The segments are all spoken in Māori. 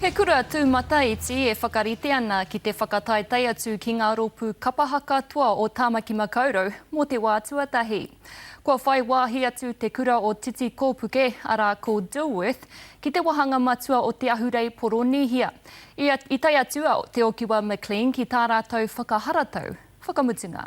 He kura tūmata iti e whakarite ana ki te whakataetae atu ki ngā rōpū kapaha katoa o Tāmaki Makaurau mō te wā tuatahi. Kua whai wāhi atu te kura o Titi Kōpuke, arā ko Dilworth, ki te wāhanga matua o te ahurei Poronīhia. I tae atu a Te Okiwa McLean ki tā rātou whakaharatau whakamutunga.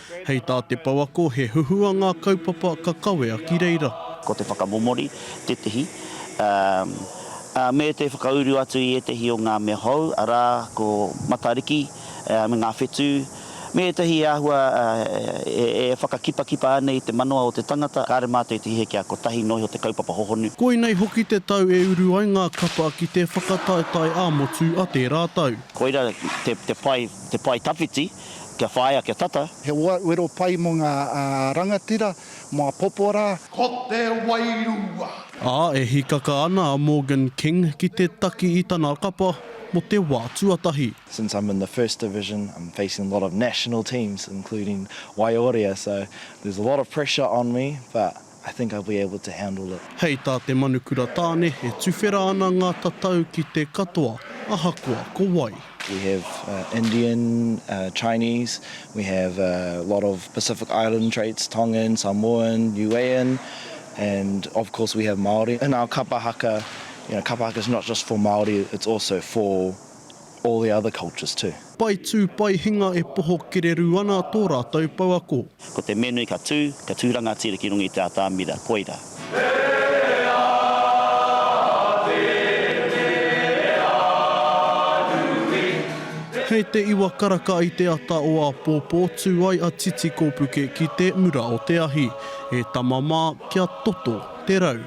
Hei tā te pouako he huhua ngā kaupapa ka kawea ki reira. Ko te whakamomori tētehi, ā, me te whakauru atu i ētehi o ngā mea hou, arā, ko Matariki me ngā whetū, me ētehi āhua e whakakipakipa ana i te manawa o te tangata, kāre mā tētehi he kia kotahi noa iho te kaupapa hohonu. Koinei hoki te tau e uru ai ngā kapa ki te whakataetae ā-motu a tērā tau. Koira te pae tawhiti. kia whāia, kia tata. He wero pai mō ngā rangatira, mō apopo rā. Ko te wairua. Ā, e hīkaka ana a Morgan King ki te taki i tana kapa mō te wā tuatahi. Since I'm in the first division I'm facing a lot of national teams including Waiorea so there's a lot of pressure on me but I think I'll be able to handle it. Hei tā te Manukura Tāne, e tuwhera ana ngā tatau ki te katoa, ahakoa ko wai. We have Indian, Chinese, we have a lot of Pacific Island traits, Tongan, Samoan, Niuean, and of course we have Māori. In our kapa haka, you know, kapa haka is not just for Māori, it's also for all the other cultures too. Pai tū, pai hinga e poho kererū ana tō rātou pouako. Ko te menui ka tū, ka tū rangatira ki runga i te atamira, koira. Hei te iwa karaka i te ata o āpōpō tū ai a Titi Kōpuke ki te mura o te ahi, e tama mā kia toto te rau.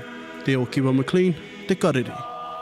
Te Okiwa McLean, Te Karere.